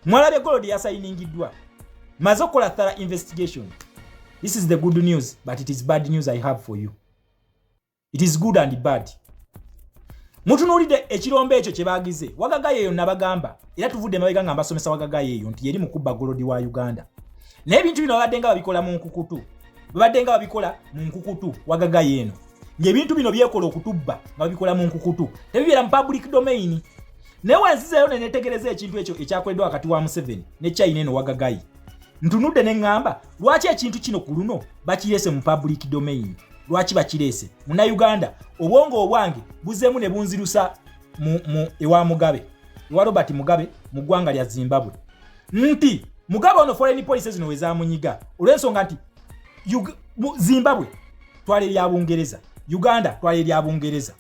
mwalabye golodi yasayiningiddwa maze okukola thara investigation this is the good news but it is bad news i have for you it is good and bad mutunuulidde ekirombo ekyo kye baagize wagagayo eyo nabagamba era tuvudde mabega nga mbasomesa wagagayo eyo nti yeri mukubba golodi wa uganda naye ebintu bino babadde nga babikola mu nkukutu babadde nga babikola mu nkukutu wagagayo eno ng'ebintu bino byekola okutubba nga babikola mu nkukutu tebibeera mu public domain naye wenzizeeyo ne netegereza ekintu ekyo ekyakoleddwa wakati wa museveni ne china eno wagagayi ntunudde ne ŋŋamba lwaki ekintu kino ku luno bakireese mu public domain lwaki bakireese munauganda obwongo obwange buzeemu ne bunzirusa ewa mugabe ewa robert mugabe mu ggwanga lya zimbabwe nti mugabe ono foreign policy zino wezamunyiga olwensonga nti zimbabwe twala erya bungereza uganda twala erya bungereza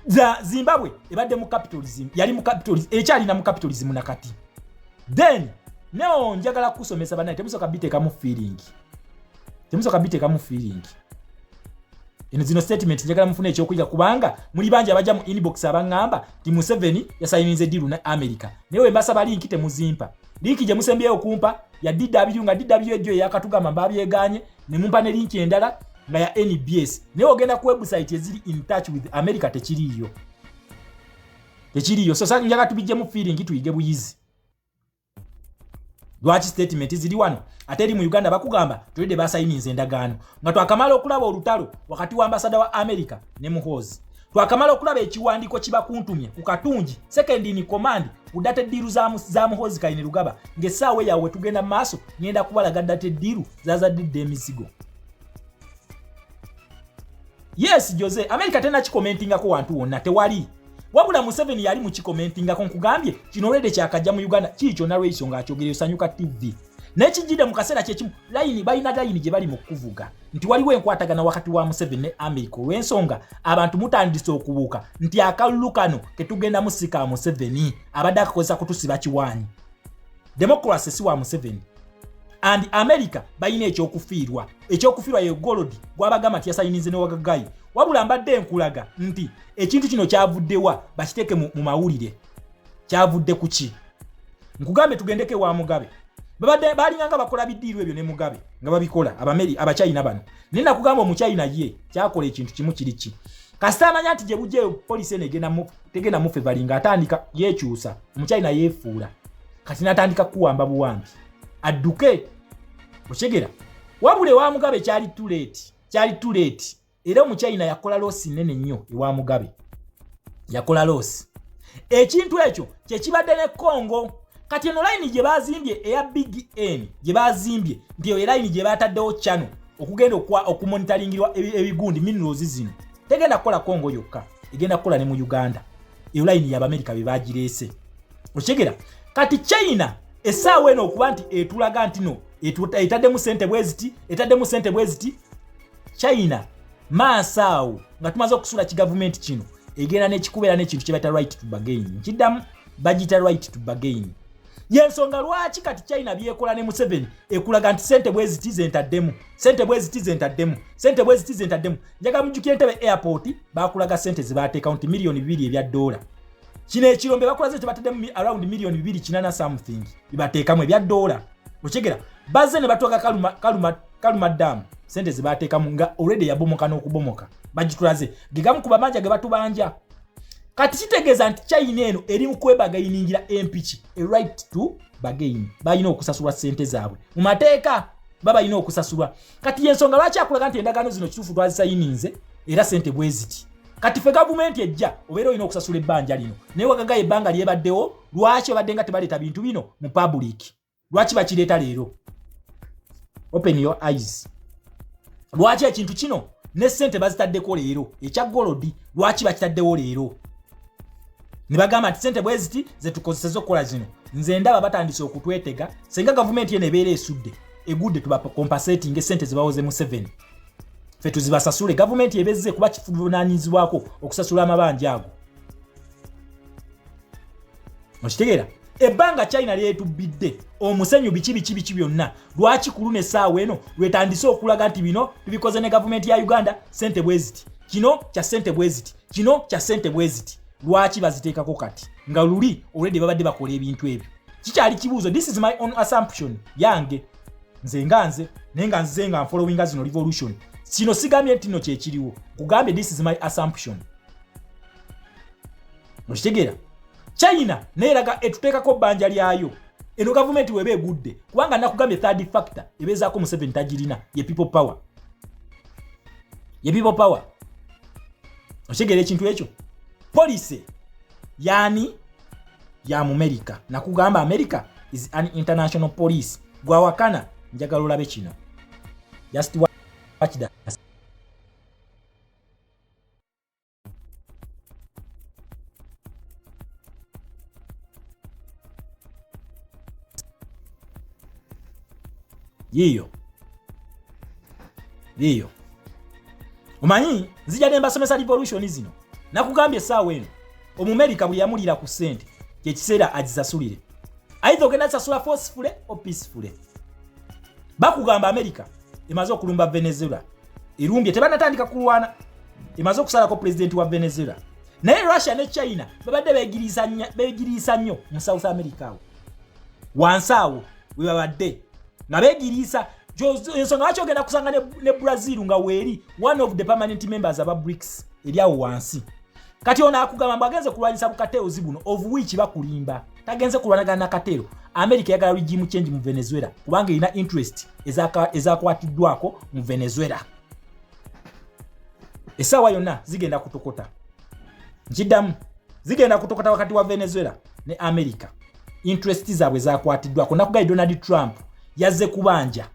za zimbabwe ebadde mu capitalism yali mu capitalism ekyalina mu capitalism nakati then neo njagala kusomesa banaye temusoka bitekamu feeling temusoka bitekamu feeling eno zino statement njagala mufuna ekyokuyiga kubanga muli bangi abajja mu inbox abangamba ti museveni yasayiniza ediru ne america naye wembasaba linki temuzimpa linki gye musembyeyo okumpa ya dw nga dw ejjo eyakatugamba mbabyeganye ne mumpa ne linki endala nga ya nbs naye ogenda ku website eziri in touch with america tekiriiyo tekiriiyo so sa njaga tubijjemu feeling tuyige buyizi lwaki statement ziri wano ate eri mu uganda bakugamba tulidde basayininza endagaano nga twakamala okulaba olutalo wakati wa ambasada wa america ne muhoozi twakamala okulaba ekiwandiiko kibakuntumye ku katungi sekendi in command ku data eddiiru za muhoozi kaine lugaba ng'essaawa eyawe tugenda mu maaso ngenda kubalaga data eddiiru zaza didde emizigo yes jose america tena kikomentingako wantu wonna tewali wabula museveni yali mukikomentingako nkugambye kino olwede kyakajja mu uganda kii kyonna lweiso ngaakyogereyo sanyuka tv naye kijjidde mu kaseera kyekimu layini balina layini gye bali mu kuvuga nti waliwo enkwatagana wakati wa museveni ne america olw'ensonga abantu mutandise okubuuka nti akalulu kano ketugendamu si ka museveni abadde akakozesa kutusiba kiwaanyi democracy si wa museveni and america balina ekyokufiirwa ekyokufiirwa ye golodi gwabagamba nti yasayinize newagagayi wabula mbadde enkulaga nti ekintu kino kyavuddewa bakiteeke mu mawulire kyavudde ku ki nkugambe tugendeko ewa mugabe babadde balinganga bakola bidiirwa ebyo ne mugabe nga babikola abameri abachina bano naye nakugamba omuchina ye kyakola ekintu kimu kiri ki kasita amanya nti gye bujjayo polisi eno egenda tegenda mufe balinga atandika yekyusa omukyalina yefuula kati natandika kuwamba buwambi adduke okyegera wabula ewa mugabe kyali tuleeti kyali tuleeti era omukyayina yakola loosi nene nnyo ewa mugabe yakola loosi ekintu ekyo kyekibadde ne congo kati eno layini gye bazimbye eya big n gye bazimbye nti eyo elayini gye bataddewo chano okugenda okumonitaringirwa ebigundi minerals zino tegenda kukola kongo yokka egenda kukola ne mu uganda eyo layini yabamerika be bagireese okitegera kati china esaawa eno okuba nti etulaga nti no etaddemu sente bweziti etaddemu sente bweziti china maaso awo nga tumaze okusula kigavumenti kino egenda nekikubeera nekintu kyebaita right to bagain kiddamu bagita right to bagain yensonga lwaki kati china byekola ne museveni ekulaga nti sente bweziti zentaddemu sente bweziti zentaddemu sente bweziti zentaddemu njagala mujjukire ntebe airport bakulaga sente zebateekawo nti miliyoni bibiri ebya doola kino ekirombe bakulaze nti bateddemu around miliyoni bibiri kinana something ibateekamu ebya doola okyegera bazze ne batuuka kaluma, kaluma, kaluma damu sente zebateekamu nga olredi yabomoka n'okubomoka bagitulaze gegamu ku bamanja ge batubanja kati kitegeeza nti china eno eri mu kwebagainingira empiki e right to bagaini balina okusasulwa sente zaabwe mu mateeka babalina okusasulwa kati yensonga lwaki akulaga nti endagaano zino kituufu twazisayininze era sente bweziti kati fe gavumenti ejja obeera olina okusasula ebbanja lino naye wagagayo ebbanga lyebaddewo lwaki obadde nga tebaleeta bintu bino mu public lwaki bakireeta leero open your eyes lwaki ekintu kino ne sente bazitaddeko leero ekya golodi lwaki bakitaddewo leero ne bagamba nti sente bweziti zetukozeseza okukola zino nze ndaba batandise okutwetega senga gavumenti eno ebeera esudde egudde tubakompasetinga esente zibawoze mu 7 fe tuzibasasule gavumenti ebezze kuba kivunanyizibwako okusasula amabanja ago okitegeera ebbanga china lyetubbidde omusenyu biki biki biki byonna lwaki kulu nesaawa eno lwetandise okulaga nti bino tubikoze ne gavumenti ya uganda sente bweziti kino kya sente bweziti kino kya sente bweziti lwaki baziteekako kati nga luli olwedde babadde bakola ebintu ebyo kikyali kibuuzo this is my own assumption yange nze nga nze naye nga nzize nga nfollowinga zino revolution kino sigambye nti no kyekiriwo kugambye this is my assumption okitegeera china naye eraga etuteekako bbanja lyayo eno gavumenti weba egudde kubanga nakugambye third factor ebeezaako museveni tagirina ye people power ye people power okitegeera ekintu ekyo policy yani ya mumerika nakugamba america is an international police gwawakana njagala olabe kino just watch that yiyo yiyo omanyi nzija ne mbasomesa revolution zino nakugambye esaawa eno omumerika buli yamulira ku sente kyekiseera agisasulire aidha ogenda sasula forcefule o peacefule bakugamba amerika emaze okulumba venezuela erumbye tebanatandika kulwana emaze okusalako pulezidenti wa venezuela naye russia ne china babadde begiriisa nnyo mu south america awo wansi awo webabadde nga begiriisa ensonga lwaki ogenda kusanga ne brazil nga weeri one of the permanent members aba brics eri awo wansi kati ono akugamba mbu agenze kulwanyisa bukateeozi buno of which bakulimba tagenze kulwanagana na kateero america yagala regime change mu venezuela kubanga erina interest ezakwatiddwako mu venezuela esaawa yonna zigenda kutokota nkiddamu zigenda kutokota wakati wa venezuela ne america interest zaabwe zakwatiddwako nakugayi donald trump yazze kubanja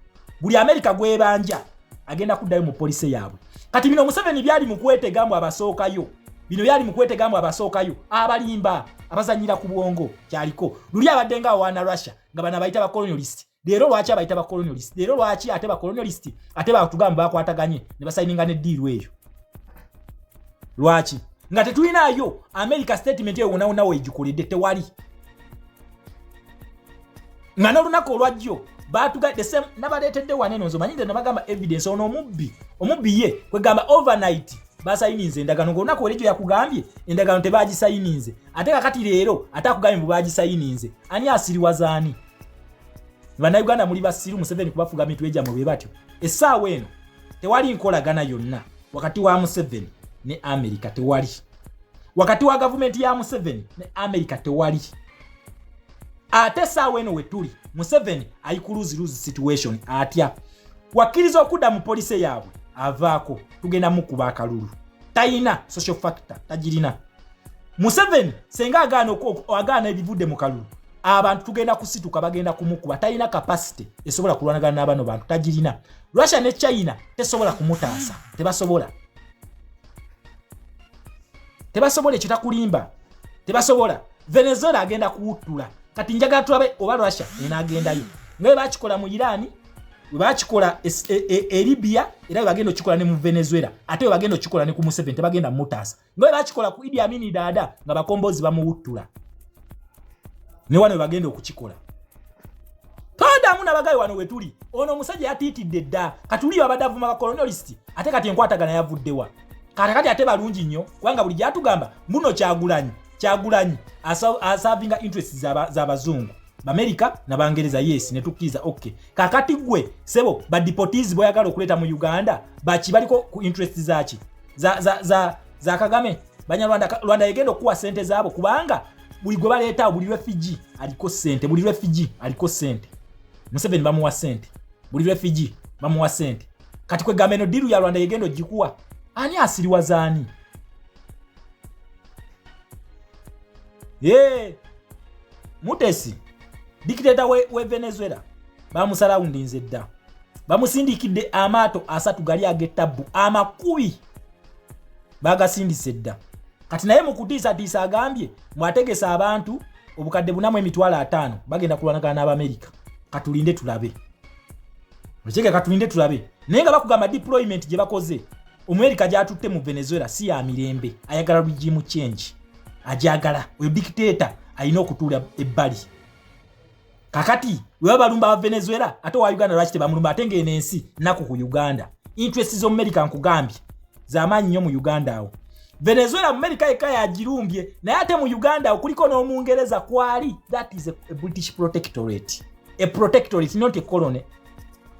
buli amerika gwebanja agenda kuddayo mu polise yaabwe kati bino museveni byali mukwetega mbu abasookayo bino byali mukwetega mbu abasookayo abalimba abazanyira ku bwongo kyaliko luli abadde nga awaana russia nga bana bayita bacolonialist leero lwaki abayita bacolonialist leero lwaki ate bacolonialist ate batugamba bakwataganye ne basayininga ne diiru eyo lwaki nga tetulinayo america statement eyo wonawonawo egikoledde tewali nga n'olunaku olwajjo batugadde same nabaleetedde wano eno nzomanyi nze nabagamba evidence ono omubbi omubbi ye kwegamba overnight basayininze endagano ngaolunaku oli gyo yakugambye endagano tebagisayininze ate kakati leero ate akugambye mbu bagisayininze ani asiriwaza ani bannayuganda muli basiru museveni kubafuga mitwe gyamwe bwe batyo essaawa eno tewali nkolagana yonna wakati wa museveni ne amerika tewali wakati wa gavumenti ya museveni ne amerika tewali ate saawa eno wetuli museveni ayi ku luzi luzi situation atya wakkiriza okudda mu polise yaabwe avaako tugenda mukuba akalulu tayina social factor tagirina museveni senga agaana agaana ebivudde mu kalulu abantu tugenda kusituka bagenda kumukuba talina kapasite esobola kulwanagana n'abano bantu tagirina russia ne china tesobola kumutaasa tebasobola tebasobola ekyo takulimba tebasobola venezuela agenda kuwuttula kati njagala tulabe oba russia enagendayo nga webakikola mu irani webakikola e, e, e libya era webagenda okikola ne mu venezuela ate webagenda okikola ne ku museven tebagenda mutaasa nga webakikola ku idi amini daada nga bakombozi bamuwuttula ne wano webagenda okukikola toddamu nabagayi wano wetuli ono omusajja yatiitidde dda katuliyo abadde avuma bakolonialist ate kati enkwatagana yavuddewa kata kati ate balungi nnyo kubanga buli gyatugamba muno kyagulanyi kyagulanyi asavinga interest zabazungu bamerika nabangereza yes netukkiriza ok kakati gwe sebo badipotis boyagala okuleeta mu uganda baki baliko ku interest zaki za, za, za, za kagame banyarwanda rwanda yegenda okukuwa sente zaabo kubanga buli gwe baleetawo buli refugee aliko sente buli refugee aliko sente museveni bamuwa sente buli refugee bamuwa sente kati kwegamba eno diru ya rwanda yegenda ogikuwa ani asiriwaza ani ye mutesi dikiteta we, we venezuela bamusalawundinze dda bamusindikidde amaato asatu gali ag'ettabbu amakubi bagasindise dda kati naye mukutiisatiisa agambye mwategesa abantu obukadde bunamu emitwalo ataano bagenda kulwanagana n'abamerika katulinde tulabe okyega katulinde tulabe naye nga bakugamba deployment gye bakoze omuerika gyatutte mu venezuela si ya mirembe ayagala regimu change ajagala oyo dictator alina okutuula ebbali kakati weba balumba aba venezuela ate owa uganda lwaki tebamulumba ate ngaeno ensi naku ku uganda interest z'omumerika nkugambye zamaanyi nnyo mu uganda awo venezuela mumerika yekka yagirumbye naye ate mu uganda awo kuliko n'omungereza kwali that is a, a british protectorate a protectorate not a colony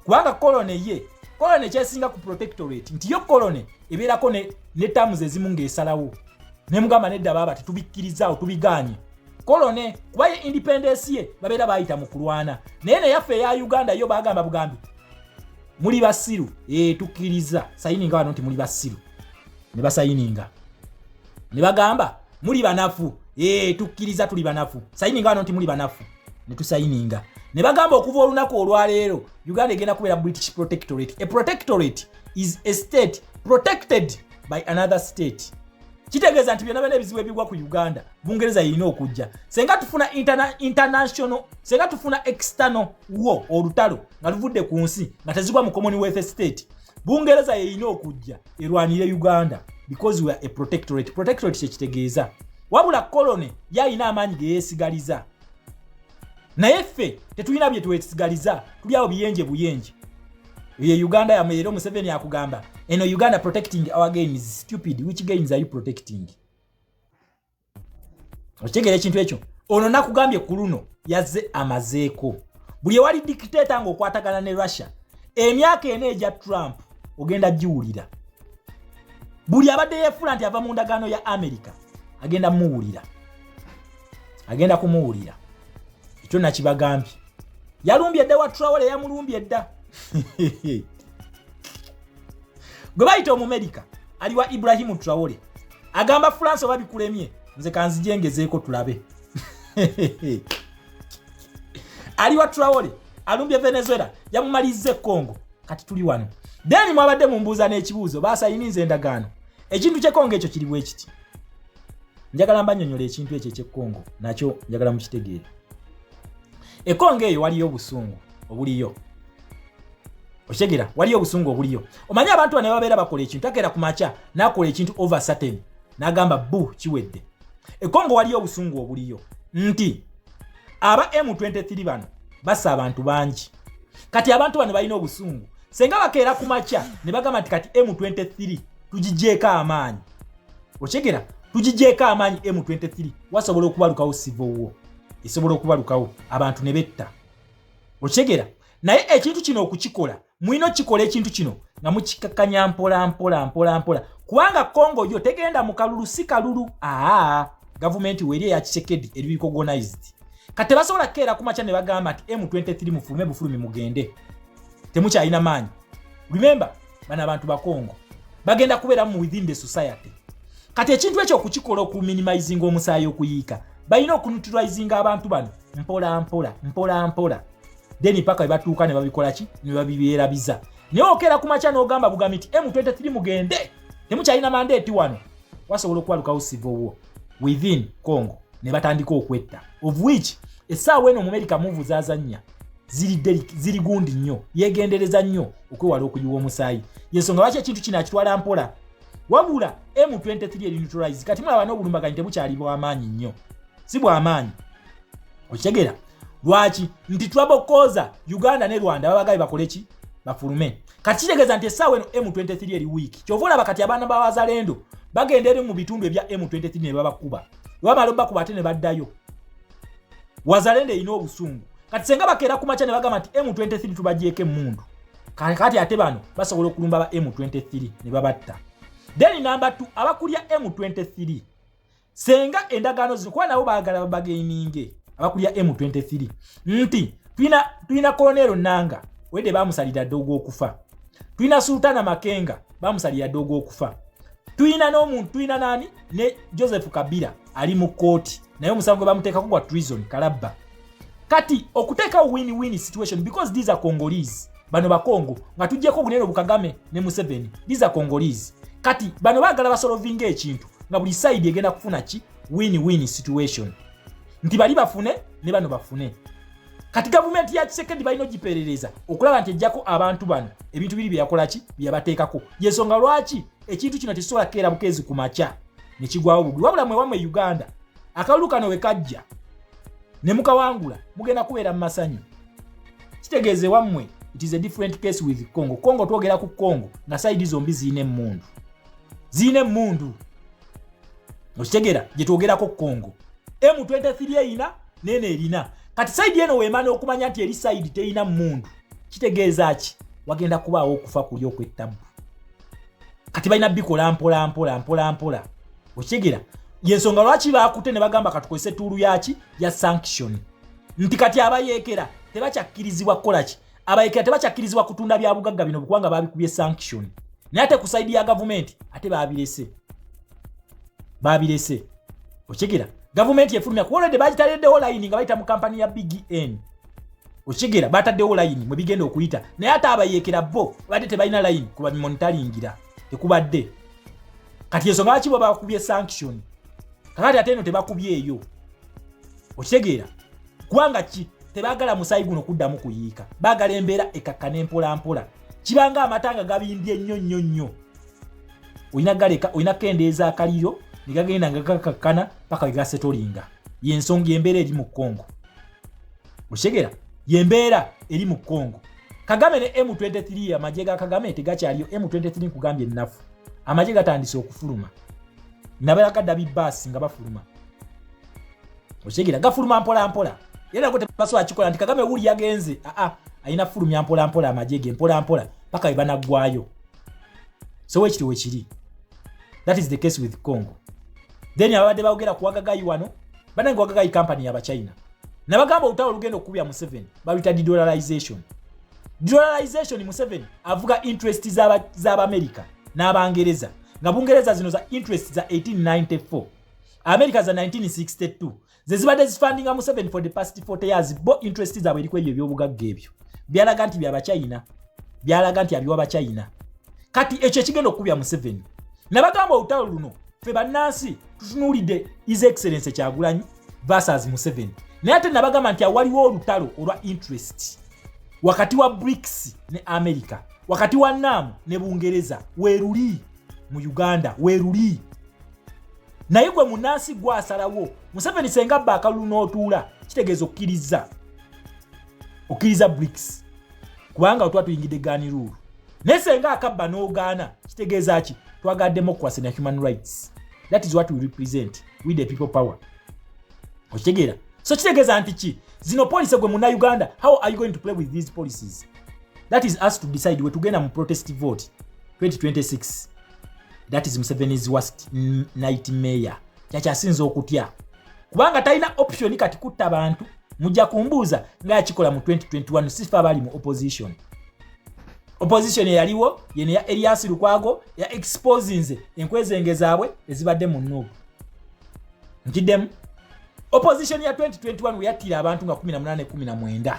kubanga colony ye colony kyesinga ku protectorate nti yo colony ebeerako ne, ne tamu zezimu ng'esalawo nemugamba nedda baaba tetubikkirizaawo tubiganye kolone kuba ye independence ye babeera bayita mu kulwana naye neyaffe eya uganda yo bagamba bugambi muli basiru ee eh, tukkiriza sayininga wano nti muli basiru ne basayininga ne bagamba muli banafu ee eh, tukkiriza tuli banafu sayininga wano nti muli banafu ne tusayininga ne bagamba okuva olunaku olwaleero uganda egenda kubeera british protectorate a protectorate is a state protected by another state kitegeeza nti byona byona ebizibu ebigwa ku uganda bungereza yeyina okujja senga tufuna international senga tufuna external wo olutalo nga luvudde ku nsi nga tezigwa mu commonwealth state bungereza yeyina okujja erwanire uganda because weare a protectorate protectorate kyekitegeeza wabula colony yayina amaanyi geyesigaliza naye ffe tetulina bye twesigaliza tuli awo biyenje buyenje ye uganda yamwe leero museveni akugamba eno uganda protecting our games stupid which games are you protecting okitegera ekintu ekyo ono nakugambye ku luno yazze amazeeko buli ewali dikiteeta ng'okwatagana ne russia emyaka ena egya trump ogenda giwulira buli abadde yefuula nti ava mu ndagaano ya america agenda muwulira agenda kumuwulira ekyo nakibagambye yalumbye dda wa trawole yamulumbye dda gwe bayita omumerica ali wa ibrahimu trawole agamba france oba bikulemye nze kanzijengezeeko tulabe ali wa trawole alumbye venezuela yamumaliza ekongo kati tuli wano deni mwabadde mumbuuza n'ekibuuzo basayininza endagaano ekintu kyekongo ekyo kiri bwekiti njagala mbanyonyola ekintu ekyo ekyekkongo nakyo njagala mukitegeere ekongo eyo waliyo obusungu obuliyo okitegera waliyo obusungu obuliyo omanyi abantu bane babeera bakola ekintu akeera ku makya nakola ekintu over certain nagamba bu kiwedde ekongo waliyo obusungu obuliyo nti aba m23 bano basa abantu bangi kati abantu bano balina obusungu senga bakeera ku makya ne bagamba nti kati m23 tugijeeko amaanyi okyegera tugijeeko amaanyi m23 wasobola okubalukawo sivo wo esobola okubalukawo abantu ne betta okyegera naye ekintu kino okukikola mulina okukikola ekintu kino nga mukikakanya mpola mpola mpola mpola kubanga congo yo tegenda mu kalulu si kalulu aa gavumenti weeri eya kisekedi eri recognized kati tebasobola kukeera ku makya ne bagamba nti m23 mufulume bufulumi mugende temukyalina maanyi remember bana abantu bakongo bagenda kubeera mu within the society kati ekintu ekyo okukikola okuminimizinga omusaayi okuyiika balina okunutilizinga abantu bano mpola mpola mpola mpola then paka webatuuka ne babikola ki ne babibeerabiza naye okeera ku makya n'ogamba bugambi nti m23 mugende temukyalina mandeeti wano wasobola okuwalukawo civil war within congo ne batandika okwetta of which essaawa eno omumerika muvu zazannya ziri gundi nnyo yegendereza nnyo okwewala okuyiwa omusaayi yensonga lwaki ekintu kino akitwala mpola wabula m23 erinutralize kati mulaba n'obulumbaganyi tebukyali bwamaanyi nnyo si bwamaanyi okitegera lwaki nti twabokoza uganda ne rwanda babagabe bakole ki bafulume kati kitegeeza nti essaawa eno m23 eri wiiki kyova olaba kati abaana bawazalendo bagenda eri mu bitundu ebya m23 ne babakuba webamala obakuba ate ne baddayo wazalendo erina obusungu kati senga bakeera ku makya ne bagamba nti m23 tubagyeko emundu kati ate bano basobola okulumba ba m23 ne babatta then namba t abakulya m23 senga endagaano zino kuba nabo baagala babageininge abakulya m23 nti tulina kolonero nanga wede bamusalira dda ogwokufa tulina sultana makenga bamusalira dda ogwokufa tulina n'omuntu tulina nani ne joseph kabira ali mu kooti naye omusango gwe bamuteekako gwa treason kalabba kati okuteekawo win win situation because these are congolese bano bakongo nga tujjeko obunene obukagame ne museveni these are congolese kati bano bagala basolovinga ekintu nga buli side egenda kufuna ki win win situation nti bali bafune ne bano bafune kati gavumenti ya kisekedi balina ogiperereza okulaba nti ejjako abantu bano ebintu biri byeyakolaki byeyabateekako yensonga lwaki ekintu kino tekisobola kukeera bukeezi ku makya ne kigwawo bugwi wabula mwewamu e uganda akalulu kano we kajja ne mukawangula mugenda kubeera mu masanyu kitegeeza ewammwe it is a different case with congo congo twogera ku congo nga saidi zombi zirina emmundu zirina emmundu okitegera gye twogerako ku congo m23 erina neeno erina kati saidi eno weemana okumanya nti eri saidi terina mmundu kitegeeza ki wagenda kubaawo okufa kuli okwettabu kati balina bikola mpola mpola mpola mpola okitegeera yensonga lwaki bakutte ne bagamba katukozesa etuulu yaki ya sanction nti kati abayeekera tebakyakkirizibwa kukolaki abayeekera tebakyakkirizibwa kutunda bya bugagga bino kubanga babikubye sanction naye ate ku saidi ya gavumenti ate babirese babirese okitegeera gavumenti efulumya kuolede bagitaleddewo layini nga bayita mu kampani ya bgn okigera bataddewo layini mwe bigenda okuyita naye ate abayeekera bo badde tebalina layini kuba bimonitalingira tekubadde kati ensonga lwaki bo bakubye sanction kakati ate eno tebakubyeeyo okitegeera kubanga ki tebagala musaayi guno kuddamu kuyiika bagala embeera ekakkana empolampola kibanga amata nga gabimbye nnyo nnyo nnyo olina galeka olina kendeeza akaliro ne gagenda nga gakakkana paka wegasetolinga yensonga embeera eri mu congo okitegera yembeera eri mu congo kagame ne m23 amagye ga kagame tegakyaliyo m23 nkugambye ennafu amagye gatandise okufuluma nabayagadda bibaasi nga bafuluma okitegera gafuluma mpolampola era nago tebasobola akikola nti kagame wuli yagenze aa alina fulumya mpolampola amagye ge mpolampola paka we banaggwayo so wekiri wekiri that is the case with congo then ababadde baogera kuwagagai wano banange wagagayi kampani yabachina nabagamba olutalo olugenda okukubya museveni baluyita dedollarization dedollarization museveni avuga interest z'abamerika za n'abangereza nga bungereza zino za interest za 1894 amerika za 1962 zezibadde zifandinga museveni for the past 40 years bo interest zaabwe eriku ebyo ebyobugagga ebyo byalaga nti byabachina byalaga nti abiwa bachina kati ekyo ekigenda okukubya museveni nabagamba olutalo luno ffe bannansi tutunuulidde his excellence kyagulanyi versus museven naye ate nabagamba nti awaliwo olutalo olwa interest wakati wa brics ne america wakati wa nam ne bungereza weruli mu uganda weruli naye gwe munansi gwasalawo museveni senga bba akalulu n'otuula kitegeeza okkiriza okkiriza brics kubanga otuba tuyingidde gaaniruulu naye senga akabba n'ogaana kitegeeza ki twagala democracy na human rights that is what we represent with the people power okitegeera so kitegeeza nti ki zino policy gwe muna uganda how are you going to play with these policies that is us to decide wetugenda mu protest vote 2026 that is museveni's worst night mayor kyakyasinza okutya kubanga talina option kati kutta bantu mujja kumbuuza ngaakikola mu 2021 sifa abali mu opposition opposition eyaliwo yene ya elias lukwago ya exposinze enkwezenge zaabwe ezibadde mu nuubu nkiddemu opposition ya 2021 weyattira abantu nga 1819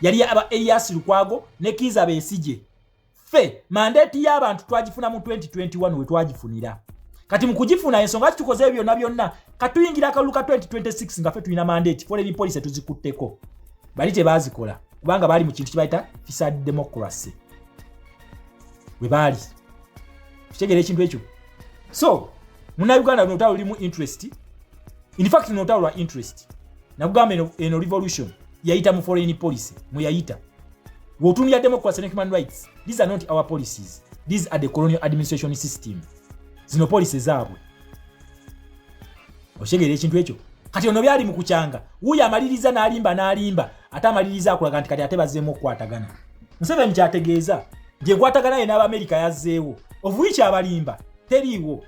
yali aba elias lukwago ne kiiza besigye ffe mandeeti y'abantu twagifuna mu 2021 we twagifunira kati mu kugifuna ensonga kitukoze ebyo byonna byonna katuyingira akalulu ka 2026 nga ffe tulina mandeeti foreign policy tuzikutteko bali tebaazikola kubanga baali mu kintu kibayita fisa democracy we baali kitegeera ekintu ekyo so munauganda luno olutalo lulimu interest infact luno olutalo lwa interest nakugamba eno revolution yayita mu foreign policy mweyayita Wotunira democracy ne human rights. These are not our policies. These are the colonial administration system. Zino policy zaabwe. Oshegere ekintu ekyo. Kati ono byali mu kuchanga. Wuyo amaliriza n'alimba n'alimba. Ate amaliriza akulaga nti kati ate bazzeemu okukwatagana. Museveni kyategeeza gye kwatagana ye n'Abamerika yazzeewo. Ovuichi abalimba teriiwo.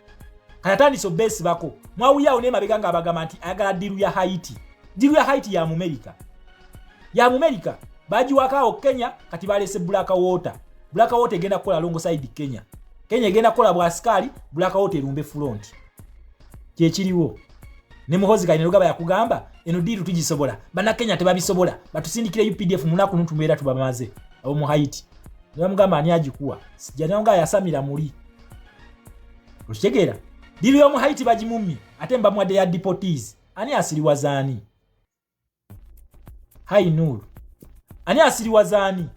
Kati atandise obbeesibako. Mwawulyawo n'emabega ng'abagamba nti ayagala ddiru ya Haiti. Ddiru ya Haiti ya Mumerika. ya mumerika bagiwako awo kenya kati balese black water black water egenda kukola alongside kenya kenya egenda kukola bwasikaali black water erumbe front kyekiriwo ne muhozi kali nelugaba yakugamba eno diiru tugisobola banakenya tebabisobola batusindikire updf munaku nutumbeera tubamaze abo mu haiti nebamugamba ani agikuwa sijananga ayasamira muli okitegeera diiru yomu haiti bagimumye ate mbamuwadde ya depotees ani asiriwazaani Hai Nur. Ani asiriwaza ani?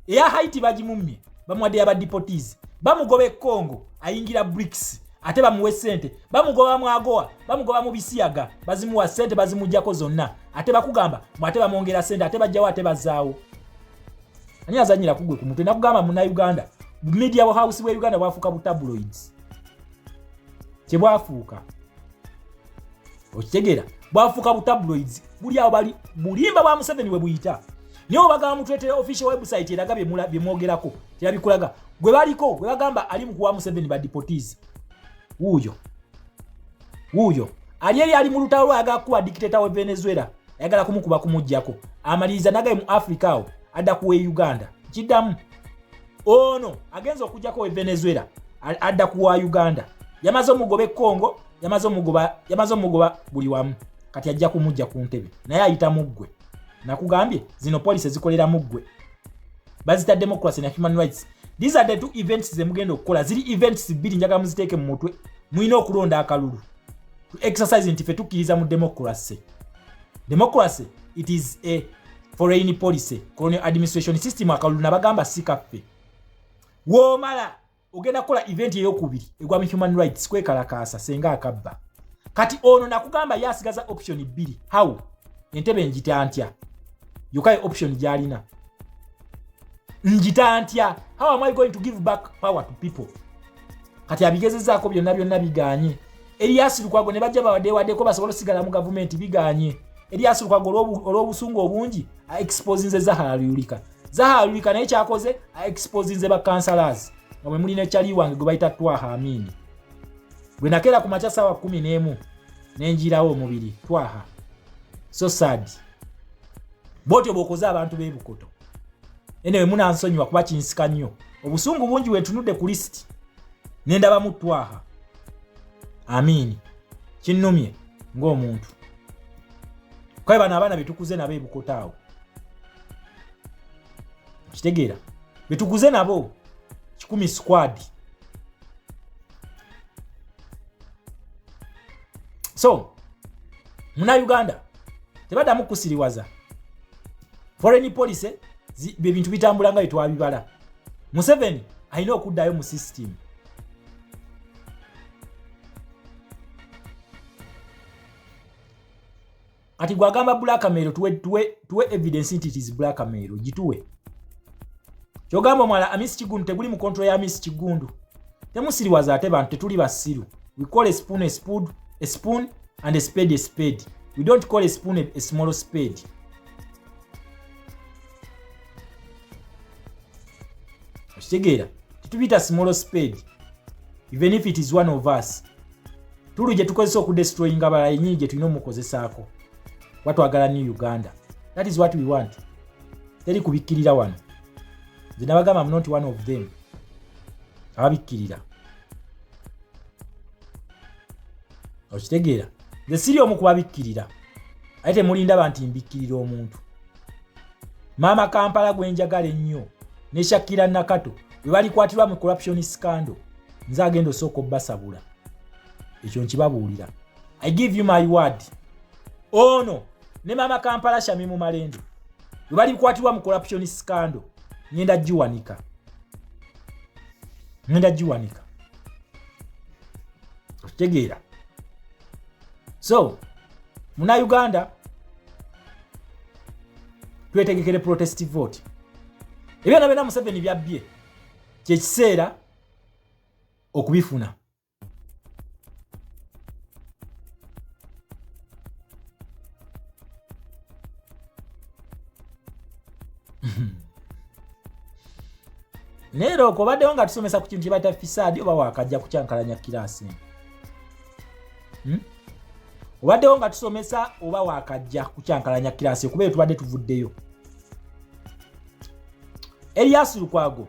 Eya Haiti bagimummye, bamwadde ya badipotizi. Bamugoba e Congo, ayingira BRICS. Ate bamuwe sente, bamugoba mu agoa, bamugoba mu bisiyaga, bazimuwa sente bazimujjako zonna. Ate bakugamba, mu ate bamwongera sente, ate bajjawo ate bazaawo. Ani azanyira kugwe ku mutwe nakugamba muna Uganda, media house we Uganda bwafuka bu tabloids. Kye bwafuuka. okitegeera bwafuuka butabloids buli awo bali bulimba bwa museveni we buyita naye obagamba mutuletere official website eraga byemwogerako terabikulaga gwe baliko gwe bagamba ali mukuwa museveni badipotis wuuyo wuuyo ali eri ali mu lutalo lwayagala kukuba dikiteta we venezuela ayagala kumukuba kumugjako amaliriza nagaye mu africa awo adda kuwa e uganda kiddamu ono agenza okujjako we venezuela adda ku wa uganda yamaze omugoba ekongo yamaze omugoba yamaze omugoba buli wamu kati ajja kumujja ku ntebe naye ayita muggwe nakugambye zino police zikolera muggwe bazita democracy na human rights these are the two events zemugenda okukola ziri events bbiri njagala muziteeke mu mutwe mulina okulonda akalulu to exercise nti fe tukkiriza mu democracy democracy it is a foreign policy colonial administration system akalulu nabagamba si kaffe womala ogenda kukola event eyokubiri egwa mu human rights kwekalakaasa senga akabba kati ono nakugamba ye asigaza option bbiri how entebe njita ntya yokaye option gyalina njita ntya how am i going to give back power to people kati abigezezaako byonna byonna biganye Elias Lukwago ne bajja bawadde wadeko basobola sigala mu gavumenti biganye Elias Lukwago olw'obusungu obungi a exposinze Zahara Luyulika Zahara Luyulika naye kyakoze a exposinze ba councillors nga mwe muli ne chali wange gwe bayita Twaha Amini gwe nakeera ku makya saawa kumi n'emu ne njirawo omubiri Twaha so sad bwotyo bwokoze abantu b'ebukoto enewe munansonyiwa kuba kinsika nnyo obusungu bungi wetunudde ku lisiti nendabamu twaha amiini kinnumye ng'omuntu kae bano abaana betukuze nabo ebukoto awo kitegeera betukuze nabo kikumi squad so muna uganda tebaddamu kukusiriwaza foreign policy bye bintu bitambula nga bye twabibala museveni alina okuddayo mu system kati gwagamba blackmail tuwe, tuwe, tuwe evidence nti tis blackmail gituwe kyogamba omwala amisi kigundu teguli mu control ya amisi kigundu temusiriwaza ate bantu tetuli basiru we call a spoon a spoon a spoon and a spade a spade we don't call a spoon a, a small spade okitegeera tetubiyita small spade even if it is one of us tulu gye tukozesa okudestroyinga abalala yenyini gye tulina omukozesaako watwagala new uganda that is what we want teri kubikkirira wano nze nabagamba mnonti one of them ababikkirira okitegeera nze siri omu kubabikkirira aye temulindaba nti mbikkirira omuntu maama kampala gwe njagala ennyo ne shakira nakato bwe balikwatirwa mu corruption scandal nze agenda osooka obbasabula ekyo nkibabuulira i give you my word ono ne maama kampala shami mu malendo bwe balikwatirwa mu corruption scandal ngenda giwanika ngenda giwanika okitegeera so muna uganda twetegekere protest vote ebyona byona museveni byabbye kyekiseera okubifuna naye loko obaddewo nga tusomesa ku kintu kyebayita fisaadi oba wakajja kukyankalanya kiraasi hmm? obaddewo nga tusomesa oba wakajja kukyankalanya kiraasi kuba eyo tubadde tuvuddeyo elias lukwago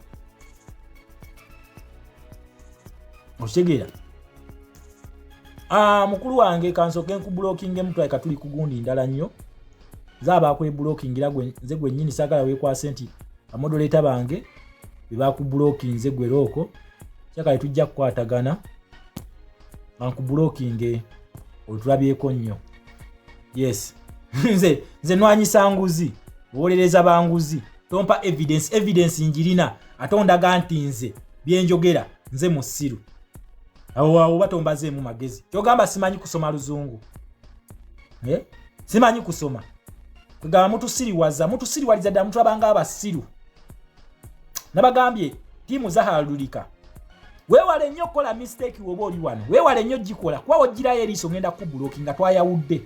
okitegeera ah, mukulu wange kansoke nkubulokinge mutwae katuli kugundi ndala nnyo zaaba akwebulokingira nze gwennyini sagala wekwase nti amodoleeta bange bebakubulokinze gwerooko kyakale tujja kukwatagana bankubulokinge olutulabyeko nnyo yes nze nze nwanyisa nguzi owolereza banguzi tompa evidence evidence njirina ate ondaga nti nze byenjogera nze musiru oba tombazeemu magezi kyogamba simanyi kusoma luzungu eh? simanyi kusoma kwegamba mutusiriwaza mutusiriwaliza ddala mutulabanga abasiru nabagambye tiimu zahalulika wewale nnyo okukola mistake woba oli wano wewale nnyo gikola kuba wojjirayo eriiso ngenda kubuloki nga twayawudde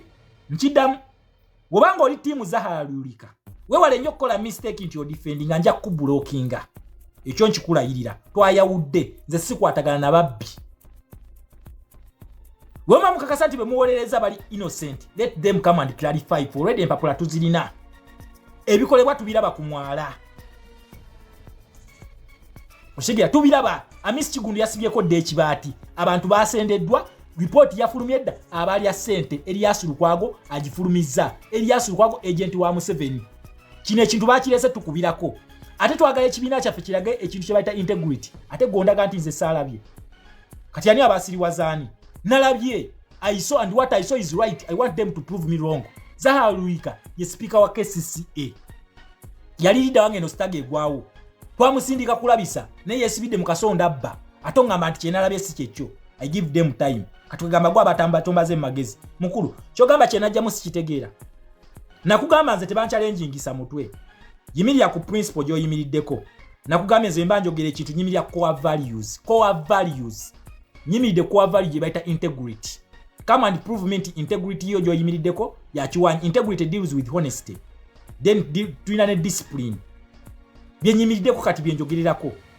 nkidamu wobanga oli tiimu zahara lulika wewale nnyo okukola mistake nti odifendi nga nja kukubulokinga ekyo nkikulayirira twayawudde nze sikwatagana na babbi wema mukakasa nti bemuwolereza bali innocent let them come and clarify for already empapula tuzirina ebikolebwa tubiraba ku mwala okitegera tubiraba amisi kigundu yasibyeko dda ekibaati abantu basendeddwa ripooti yafulumye edda abaalya ssente eriyasi lukwago agifulumizza eriyasi lukwago agenti wa museveni kino ekintu bakirese tukubirako ate twagala ekibiina kyaffe kirage ekintu kye bayita integrity ate gondaga nti nze saalabye kati ani abasiriwazaani nalabye iso and what iso is right i want them to prove me wrong zaha luika ye sipiika wa kcca yali lida wange eno sitaga egwawo twamusindika kulabisa naye yesibidde mu kasonda abba ate ongamba nti kyenalabye si kyekyo i give them time katugamba gwa batamba tumbaze magezi mukulu kyogamba kyenajja musikitegeera nakugamba nze tebankyalenjingisa mutwe yimirira ku principle gyoyimiriddeko nakugambye nze mba njogera ekintu nyimirira core values core values nyimiridde core value gye bayita integrity come and prove me nti integrity yo gyoyimiriddeko yakiwanyi integrity deals with honesty then tulina ne discipline byenyimiriddeko kati byenjogererako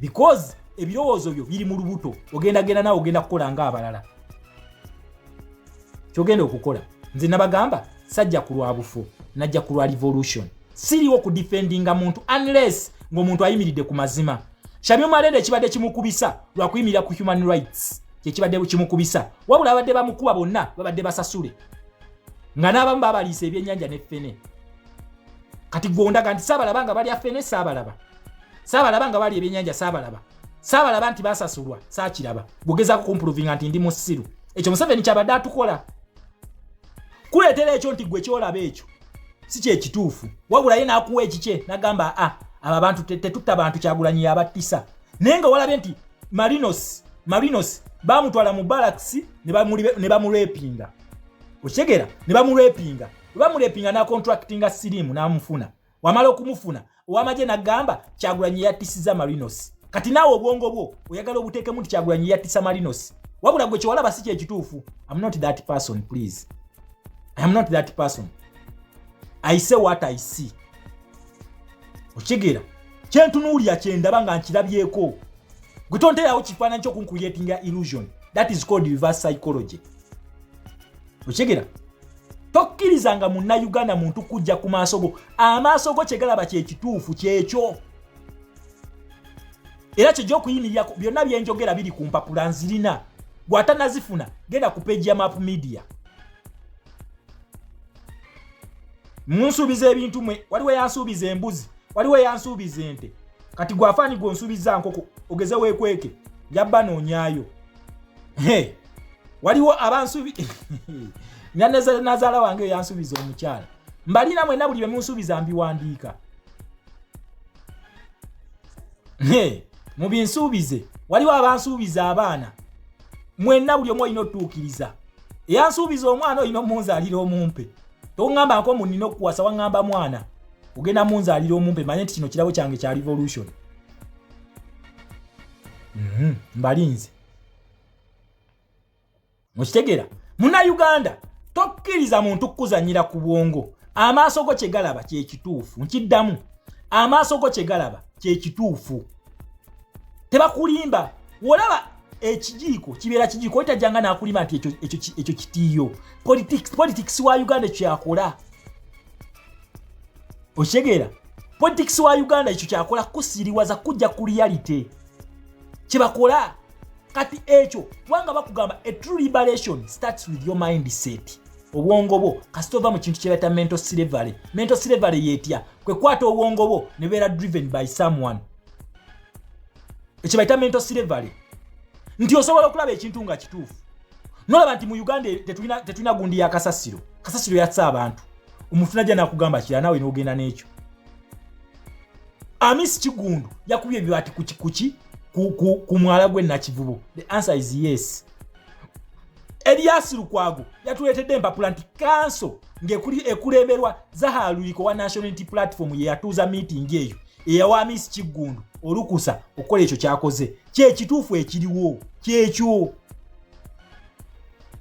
because ebirowoozo byo biri mu lubuto ogenda genda nawe ogenda kukola nga abalala kyogenda okukola nze nabagamba sajja ku lwa bufo najja ku lwa revolution siriwo ku defendinga muntu unless ngaomuntu ayimiridde ku mazima shamio malende ekibadde kimukubisa lwakuyimirira ku human rights kyekibadde kimukubisa wabula abadde bamukuba bonna babadde basasule nga n'abamu babaliisa ebyenyanja ne fene kati gondaga nti saabalaba nga balya fene saabalaba saabalaba nga bali ebyenyanja saabalaba saabalaba nti basasulwa saakiraba gugezako kumpuluvinga nti ndi musiru ekyo museveni kyabadde atukola kuleetera ekyo nti gwe kyolaba ekyo si kyekituufu wabulaye n'akuwa ekikye nagamba a ah, abo abantu tetutta bantu kyagulanyi yabattisa naye nga walabye nti marinos marinos bamutwala mu balakisi ne bamurepinga okitegera ne bamurepinga bamurepinga nacontractinga sirimu namufuna wamala okumufuna owamagye nagamba kyagulanyi yatisiza marinos kati naawe obwongo bwo oyagala obuteekemu nti kyagulanyi yatisa marinos wabula gwe kyewalaba si kyekituufu am not that person please am not that person i say what i see okigera kyentunuulira kyendaba nga nkirabyeko gwe tonterawo kifaananyi kyokunkuyetinga illusion that is called reverse psychology okigera tokkiriza nga munnayuganda muntu kujja ku maaso go amaaso go kyegalaba kyekituufu kyekyo era kyeja okuyimirira byonna byenjogera biri ku mpapula nzirina gwatanazifuna genda ku peji ya map media munsuubiza ebintu mwe waliwo yansuubiza embuzi waliwo yansuubiza ente kati gwafaani gwonsuubiza nkoko ogeze wekweke yabba noonyayo waliwo abansubi nazala wange yansubiza omukyala mbalina mwena buli bemunsubiza mbiwandiika mubinsuubize waliwo abansuubiza abaana mwena buli omu olina otuukiriza eyansuubiza omwana olina omunzalira omumpe tongamba nko munina okuwasa wangamba mwana ogenda munzalira omumpe manye nti kino kirabo kyange kya revolution Mhm, mbalinze mukitegera munayuganda tokkiriza muntu kukuzanyira ku bwongo amaaso go kyegalaba kyekituufu nkiddamu amaaso go kyegalaba kyekituufu tebakulimba wolaba ekijiiko kibeera kijiiko otajjanga nakulima nti ekyo kitiiyo politics wa uganda ekyo yakola okitegeera politics wa uganda ekyo kyakola kusiriwaza kujja ku reality kyebakola kati ekyo kubanga bakugamba a true liberation starts with your mind set obwongo bwo kasita ova mu kintu kyebayita mental slavery mental slavery yetya kwekwata obwongo bwo nebeera driven by someone ekyebayita mental slavery nti osobola okulaba ekintu nga kituufu nolaba nti mu uganda tetulina gundi ya kasasiro kasasiro yatsa abantu omuntu najja nakugamba kira nawe nogenda nekyo amisi kigundu yakubye ebibaati kukikuki ku mwala gwe nakivubo the answer is yes eliasi lukwago yatuletedde empapula nti kanso ngekuli ekulemberwa zahaluliko wa national unity platform yeyatuuza miitingi eyo eyawa amisi kigundu olukusa okukola ekyo kyakoze kyekituufu ekiriwo kyekyo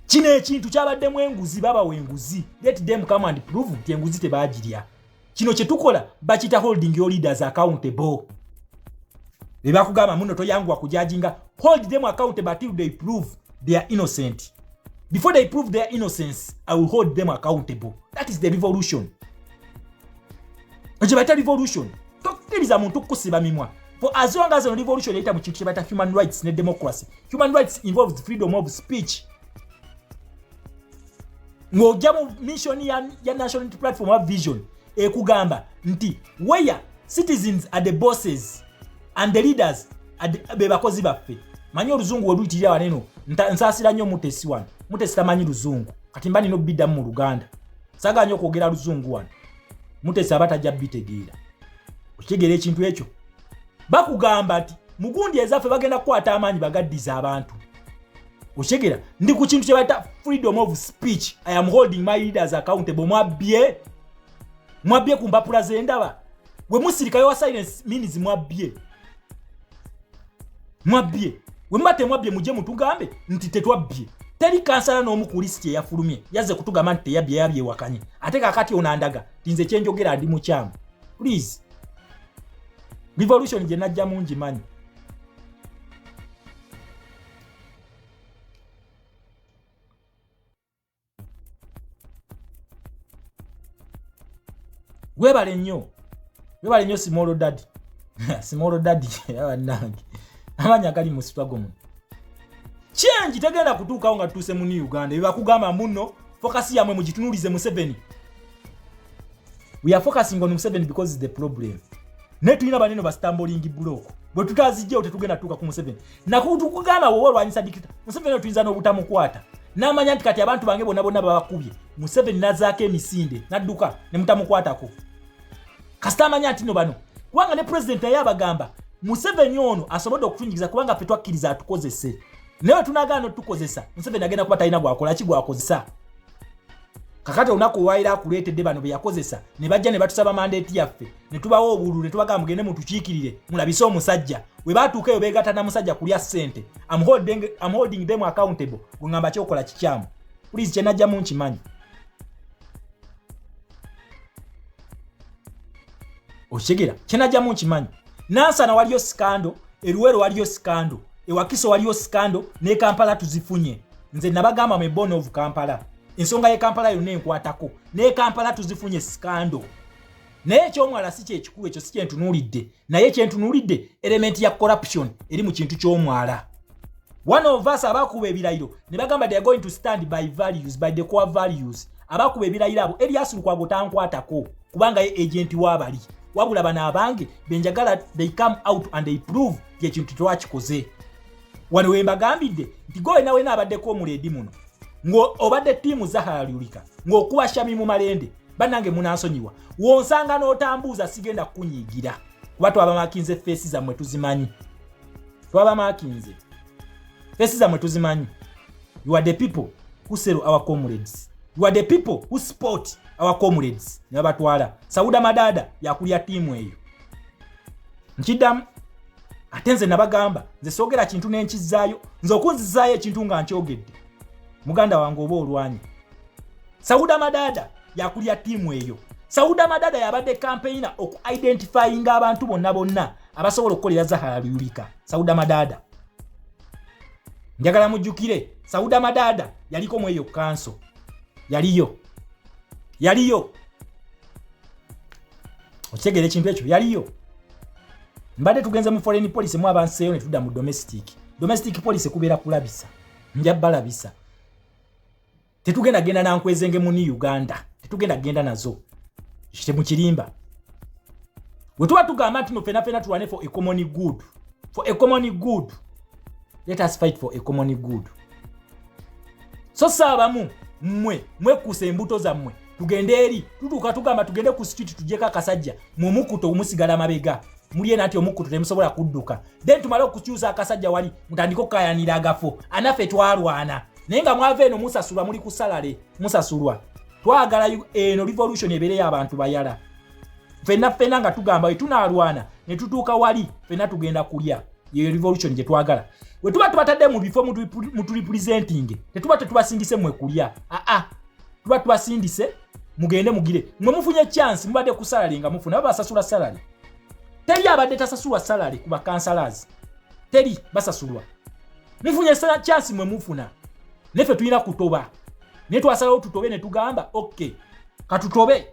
kino ekintu kyabaddemu enguzi babawa enguzi let them come and prove nti enguzi tebagirya kino kyetukola bakita holding your leaders accountable bebakugamba muno toyanguwa kujajinga hold them accountable until they prove they are innocent before they prove their innocence i will hold them accountable that is the revolution ekyo bayita revolution tokkiriza muntu kukusiba mimwa for as long as revolution eyita mu kintu kyebayita human rights ne democracy human rights involves freedom of speech ng'ojja mu mission ya, ya national platform of vision ekugamba nti where citizens are the bosses and the leaders be bakozi baffe manyi oluzungu weluyitirira waneno nsaasira nnyo mutesi wano mutesi tamanyi luzungu kati mba nina obiddamu mu luganda sagaa nyo okwogera luzungu wano mutesa aba tajja bitegeera okitegeera ekintu ekyo bakugamba nti mugundi ezaffe bagenda kukwata amaanyi bagaddiza abantu okyegera ndi ku kintu kyebayita freedom of speech i am holding my leaders accountable mwabbye mwabbye ku mpapula zendaba wemusirikayo wa silence means mwabbye mwabbye wemuba temwabbye mujje mutugambe nti tetwabbye teri kansala n'omu ku lisiti eyafulumye yazze kutugamba nti teyabbye yabyewakanye ate kakati onandaga tinze kyenjogera ndi mukyamu please revolution gye najja mungi manyi webale nnyo webale nnyo simolo dadi simolo dadi abanange amanya gali mu sitwago muno kyengi tegenda kutuukawo nga tutuuse mu new uganda ebakugamba muno fokasi yamwe mugitunulize museveni we are focusing on museveni because is the problem naye tulina baneno bastambolingi bulooko bwe tutazijjawo tetugenda tuuka ku museveni nakubutu kugamba woba olwanyisa dikita museveni otuyinza n'obutamukwata n'amanya nti kati abantu bange bona bonna babakubye museveni nazaako emisinde nadduka ne mutamukwatako kasita amanya nti no bano kubanga ne pulezidenti naye abagamba museveni ono asobodde okutunyigiza kubanga ffe twakkiriza atukozese naye wetunagaana otukozesa museveni agenda kuba talina gwakola ki gwakozesa kakati olunaku olwaliro akuleetedde bano be yakozesa ne bajja ne batusaba mandeeti yaffe ne tubawo obululu ne tubagaa mugende mutukiikirire mulabise omusajja we baatuuka eyo beegatta na musajja kulya ssente am holding them accountable gwe ngamba kyokola kikyamu pulizi kye najjamu nkimanyi okitegeera kye najjamu nkimanyi nansana waliyo sikando eruwero waliyo sikando ewakiso waliyo sikando ne kampala tuzifunye nze nabagamba me born of kampala ensonga ye kampala yonna enkwatako ne kampala tuzifunye scandal naye ekyomwala si kyekikulu ekyo si kyentunuulidde naye kyentunuulidde elementi ya corruption eri mu kintu kyomwala one of us abakuba ebirayiro ne bagamba they are going to stand by values by the core values abakuba ebirayiro abo elias lukwago tankwatako kubanga ye agenti wabali wabula bano abange benjagala they come out and they prove ti ekintu twakikoze wano wembagambidde nti gwe wena wena abaddeko omuledi muno ng'obadde ttiimu zahara lyulika ng'okuba shami mu malende bannange munansonyiwa wonsanga n'otambuuza sigenda kukunyiigira kuba twabamakinze feesi zammwe tuzimanyi twabamakinze feesi zammwe tuzimanyi you are the people who sell our comrades you are the people who support our comrades ne babatwala sauda madada yakulya ttiimu eyo nkiddamu ate nze nabagamba nze soogera kintu nenkizaayo nze okunzizaayo ekintu nga nkyogedde muganda wange oba olwanyi sauda madada yakulya tiimu eyo sauda madada yabadde kampeyina oku identifyinga abantu bonna bonna abasobola okukolera zahara luyulika sauda madada njagala mujjukire sauda madada yaliko mu eyo kanso yaliyo yaliyo okitegera ekintu ekyo yaliyo mbadde tugenze mu foreign policy mu abanseeyo ne tudda mu domestic domestic policy kubeera kulabisa nja balabisa tetugenda genda nankwezenge muni uganda tetugenda genda nazo kite mu kirimba bwe tuba tugamba nti no fena fena tulwane for a common good for a common good let us fight for a common good so saabamu mmwe mwekuusa embuto zammwe tugende eri tutuuka tugamba tugende ku street tujeko akasajja mumukuta omusigala mabega mulye nati omukuta temusobola kudduka then tumale okukyusa akasajja wali mutandike okukayanira agafo anaffe twalwana naye nga mwava eno musasulwa muli kusalale musasulwa twagala eno revolution ebeereyo abantu bayala fenna fenna nga tugamba we tunalwana ne tutuuka wali fenna tugenda kulya yeyo revolution gye twagala we tuba tubatadde mu bifo mutulipulizentinge tetuba tetubasingise mwe kulya aa ah, ah. tuba tubasindise mugende mugire mwe mufunye chance mubadde ku salary nga mufuna baba basasula salary teri abadde tasasulwa salary ku bakansalaz teri basasulwa mufunye sala chance mwe mufuna nefe tulina kutoba naye twasalawo tutobe ne tugamba ok katutobe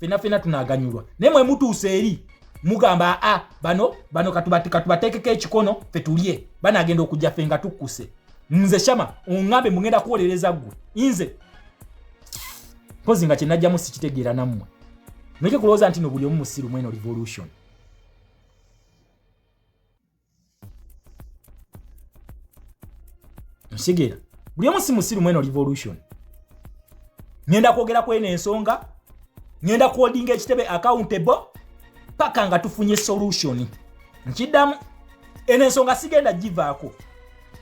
fena fena tunaganyulwa naye mwe mutuusa eri mugamba a bano bano katubatekeko ekikono fe tulye banagenda okujja fe nga tukkuse nze shama ongambe mugenda kuwolereza gwe inze mpozi nga kyenajjamu sikitegeera nammwe muleke kulowooza nti no buli omu musiru mweno revolution nsigera buli omu si musiru mweno revolution ngenda kwogera kweno ensonga ngenda kuodinga ekitebe accountable paka nga tufunye solution nkiddamu eno ensonga sigenda givaako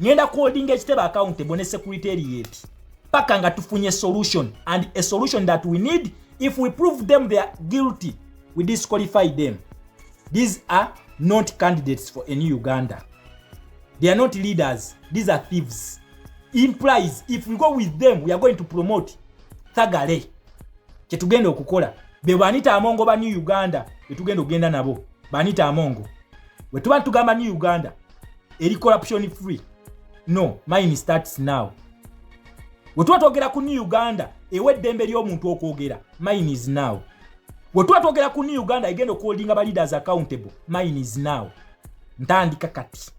ngenda kuholdinga ekitebe accountable ne secretariat paka nga tufunye solution and a solution that we need if we prove them they are guilty we disqualify them these are not candidates for a new uganda they are not leaders these are thieves implies if we go with them we are going to promote thagale kyetugenda okukola be banita amongo ba new uganda betugenda okugenda nabo banita amongo wetuba tugamba new uganda eri corruption free no mine starts now wetuba twogera ku new uganda ewa eddembe ly'omuntu okwogera mine is now wetuba twogera ku new uganda egenda okuholdinga ba leaders accountable mine is now ntandika kati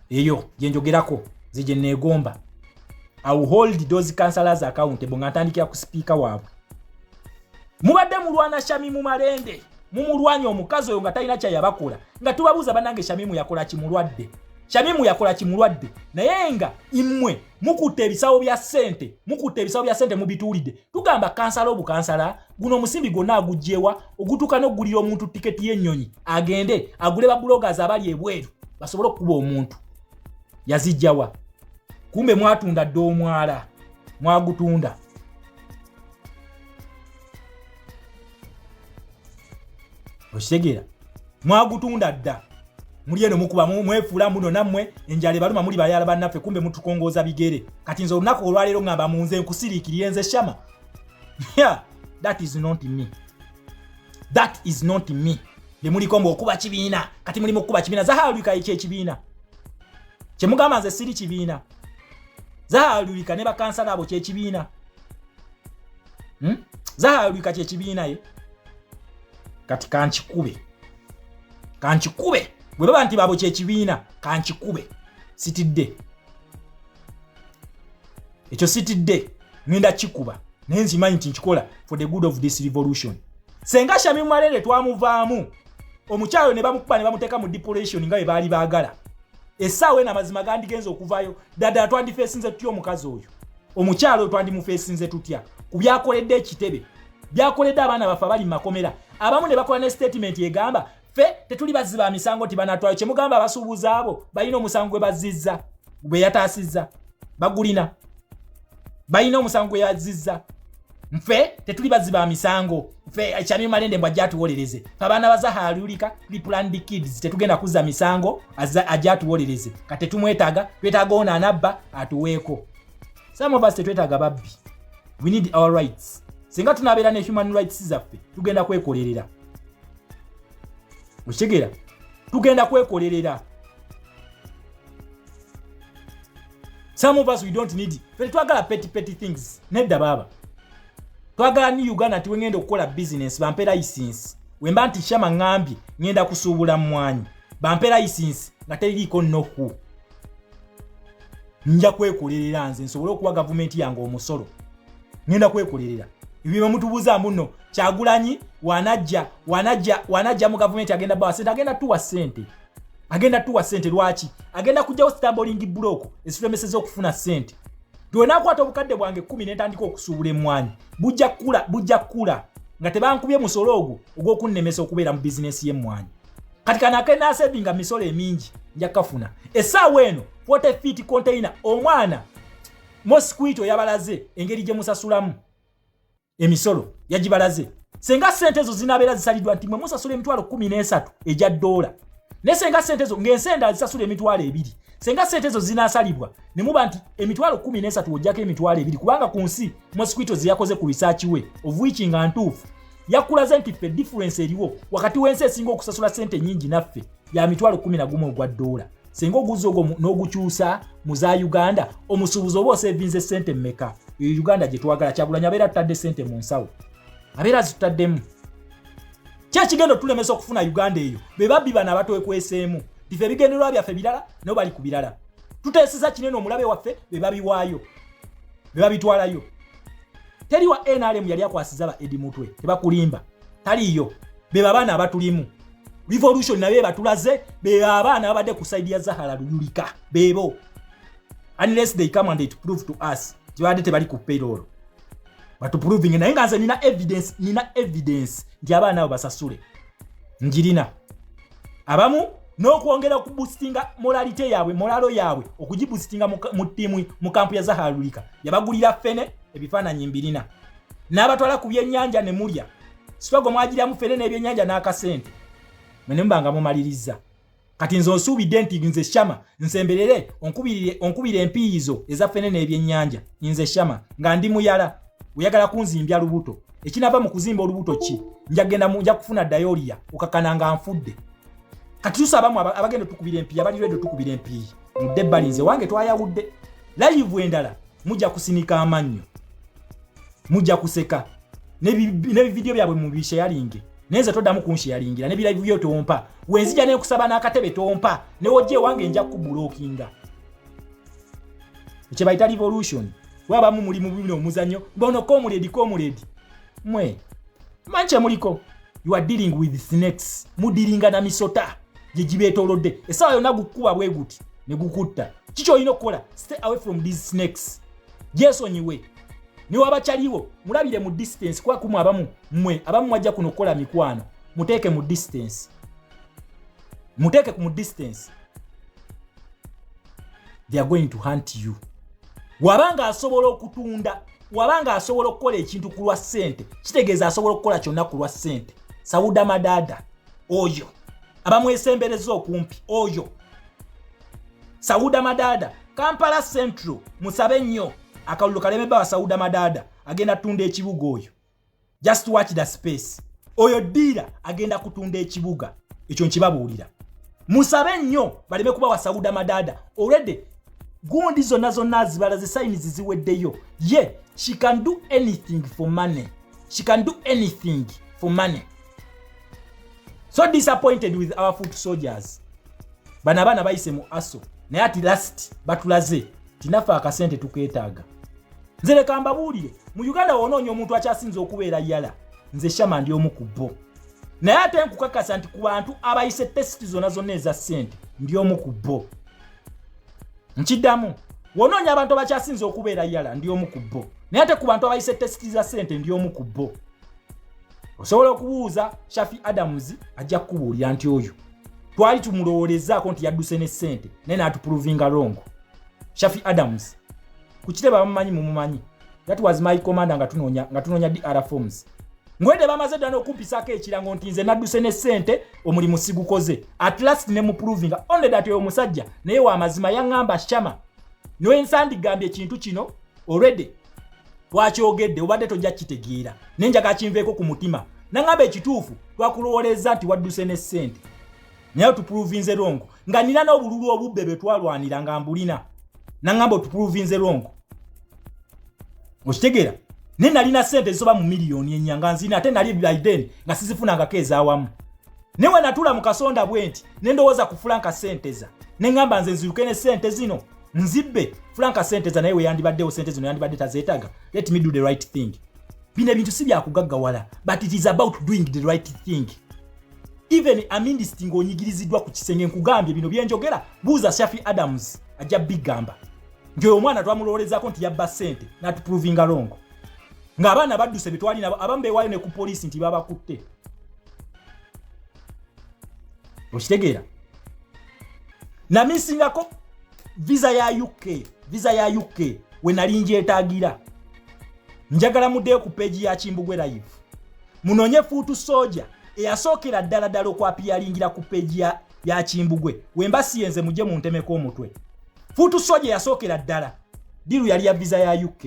eyo gyenjogerako zigye neegomba iwill hold those councilors accountable nga ntandikira ku sipiika waabwe mubadde mulwana shami mu malende mumulwanya omukazi oyo nga talina kyayabakola nga tubabuuza banange shamimu yakola kimulwadde shamimu yakola kimulwadde naye nga imwe mukutte ebisawo bya sente mukutte ebisawo bya sente mubituulidde tugamba kansala obukansala guno omusimbi gwonna agugyewa ogutuuka n'okugulira omuntu tiketi y'ennyonyi agende agule babulogas abali ebweru basobole okukuba omuntu yazijjawa kumbe mwatunda dda omwala mwagutunda okitegeera mwagutunda dda muli eno mukuba mwefuula mbuno nammwe enjala ebaluma muli bayala bannaffe kumbe mutukongooza bigere kati nze olunaku olwaleero ngamba munze nkusiriikirire nze shama yeah, that is not me that is not me bemuliko mbu okuba kibiina kati mulimu okukuba kibiina zahalulika ekyo ekibiina kyemugamba nze siri kibiina zahalulika ne bakansala abo kyekibiina hmm? zahara lwika kyekibiina ye kati kankikube kankikube bwe baba nti babo kyekibiina kankikube sitidde ekyo sitidde ngenda kikuba naye nzimanyi nti nkikola for the good of this revolution senga shami mumalere twamuvaamu omukyalo ne bamukuba ne bamuteeka mu deporation nga bwe baali baagala essaawa eno amazima gandigenza okuvaayo daddala twandifeesinze tutya omukazi oyo omukyalo oyo twandimufeesinze tutya ku byakoledde ekitebe byakoledde abaana baffe abali mu makomera abamu ne bakola ne sitatimenti egamba fe tetuli bazzi ba misango nti banatwayo kyemugamba abasuubuza abo balina omusango gwe bazzizza gwe yataasizza bagulina balina omusango gwe yazzizza nfe tetuli bazzi ba misango fe eh, kyamye malende mbwa jatuwolereze abaana baza halulika tuli planned kids tetugenda kuzza misango ajatuwolereze kati tumwetaga twetaga ono anabba atuweeko some of us tetwetaaga babbi we need our rights singa tunabeera ne human rights zaffe tugenda kwekolerera okitegeera tugenda kwekolerera some of us we don't need fe twagala petty petty things nedda baaba twagala ni uganda nti wengenda okukola bizinensi bampe layisinsi wemba nti shama ŋambye ŋenda kusuubula mmwanyi bampe layisinsi nga teririiko noku nja kwekolerera nze nsobole okuwa gavumenti yange omusolo ngenda kwekolerera ebyeba mutubuza muno kyagulanyi wanajja wanajja wanajja mu gavumenti agenda bawa sente agenda tuwa sente agenda tuwa sente lwaki agenda kujjawo stamboling block ezifulemeseza okufuna sente twenakwata obukadde bwange kumi nentandika okusuubula emwanyi bujja kula bujja kula nga tebankubye musolo ogwo ogwokunnemesa okubeera mu bizinesi yemwanyi kati kano akenasevinga misolo emingi nja kafuna esaawa eno 40 feet container omwana mosquito yabalaze engeri gye musasulamu emisolo yagibalaze senga sente ezo zinabeera zisalidwa nti mwe musasula emitwalo 13 egya doola naye senga sente ezo ng'ensi endala zisasula emitwalo ebiri senga sente ezo zinasalibwa ne muba nti emitwalo 13 ojjako emitwalo ebiri kubanga ku nsi mosquito zeyakoze ku risaaki we ovuiki nga ntuufu yakulaze nti ffe difference eriwo wakati w'ensi esinga okusasula sente enyingi naffe ya mitwalo 11 ogwa doola singa oguzi ogwo n'ogukyusa mu za uganda omusuubuzi oba osevinze sente mumeka eyo uganda gye twagala kyagulanya abeera tutadde sente mu nsawo abeera zitutaddemu kyekigenda otulemesa okufuna uganda eyo be babbi bano abatwekweseemu tife ebigendererwa byaffe birala nabo bali ku birala tuteeseza kinene omulabe waffe be babiwaayo ne babitwalayo teri wa nrm yali akwasiza ba edi mutwe tebakulimba taliyo beba abaana abatulimu revolution nabe batulaze beba abaana babadde ku saidi ya zahara luyulika bebo unless they come and they prove to us tibadde tebali ku payroll batuproving naye nga nze nina evidence nina evidence nti abaana abo basasule njirina abamu n'okwongera okubusitinga molalite yaabwe molalo yaabwe okugibusitinga mu ttiimu mu kampu ya zahalulika yabagulira fene ebifaananyi mbirina n'abatwala ku byennyanja ne mulya sitogo mwagiramu fene n'ebyennyanja n'akasente mwe ne muba nga mumalirizza kati nze onsuubidde nti nze shama nsemberere onkubira empiiyizo eza fene n'ebyennyanja nze shama nga ndi muyala oyagala kunzimbya lubuto ekinava mu kuzimba olubuto ki njagenda munja kufuna dayoliya okakana nga nfudde kati tusabamu abagenda tukubira empiyi abali redio tukubira empiyi mudde ebbali nze wange twayawudde layivu endala mujja kusinika amannyo mujja kuseka nebividiyo byabwe mubisheyalinge naye nze toddamu kunsheyalingira nebirayivu byo tompa wenzija nekusaba n'akatebe tompa newojja ewange nja kubulokinga ekyebayita revolution wabamu muli mubino omuzanyo bono komuledi komuledi mwe manche muliko you are dealing with snakes mudiringa na misota gye gibeetolodde essaawa yonna gukukuba bwe guti ne gukutta kiki olina okukola stay away from these snakes gyesonyiwe newabakyaliwo mulabire mu distance kuba kumu abamu mmwe abamu mwajja kuno okukola mikwano muteeke mu distance muteeke ku mu distance they are going to hunt you waba nga asobola okutunda waba nga asobola okukola ekintu ku lwa ssente kitegeeza asobola okukola kyonna ku lwa ssente sawuda madaada oyo abamwesembereza okumpi oyo sawuda madaada kampala central musabe nnyo akalulu kalemebba wa sawuda madaada agenda tunda ekibuga oyo just watch the space oyo diira agenda kutunda ekibuga ekyo nkibabuulira musabe nnyo baleme kuba wasawuda madada already gundi zonna zonna zibala zisayinizi ziweddeyo ye yeah, she can do anything for money she can do anything for money so disappointed with our foot soldiers bano abaana bayise mu aso naye ati last batulaze tinaffe akasente tukeetaaga nze leka mbabuulire mu uganda wonoonya omuntu akyasinza okubeera yala nze shama ndi omu ku bo naye ate nkukakasa nti ku bantu abayise tesiti zonna zonna eza ssente ndi omu ku bo nkiddamu wonoonya abantu abakyasinza okubeera yala ndi omu ku bo naye ate ku bantu abayise tesiti za ssente ndi omu ku bo osobola okubuuza shafi adams ajja kukubuulira nti oyo twali tumulowolezaako nti yadduse ne sente naye natupruvinga rongo shafi adams kukite bamumanyi mumumanyi that was my commander nga tunonya nga tunonya DR forms ngwede bamaze dana okumpisako ekirango nti nze naduse ne sente omulimu sigukoze at last ne muproving only that yo musajja naye wa mazima yangamba shama no ensandi gambye kintu kino already twakyogedde obadde tojja kukitegeera naye njaga kinveeko ku mutima naŋamba ekituufu twakulowoleeza nti wadduse ne ssente naye otupuluvinze longo nga nina n'obululu obubbe bwe twalwanira nga mbulina naŋamba otupuluvinze longo okitegeera naye nalina ssente zisoba mu miliyoni enya nga nzina ate nali biden nga sizifunangako ezawamu naye wenatula mu kasonda bwe nti nendowooza kufula nka ssenteza neŋamba nze nziruke ne ssente zino nzibbe franka sente za naye weyandibaddewo sente zino yandibadde tazeetaga let me do the right thing bino ebintu si byakugaggawala but it is about doing the right thing even amindisiti ng'onyigiriziddwa ku kisenge nkugambye bino byenjogera buuza shafi adams ajja bigamba nti oyo omwana twamulowolezaako nti yabba sente natuprovinga longo ng'abaana badduse betwalina abamu bewaayo ne ku poliisi nti babakutte okitegeera namisingako visa ya uk visa ya uk wenali njetagira njagala mudeyo ku peji ya kimbugwe live munonye fuutu soja eyasookera ddala ddala okwapiyalingira ku peji ya, ya kimbugwe wemba siyenze muje muntemeko omutwe fuutu soja eyasookera ddala diru yali ya visa ya uk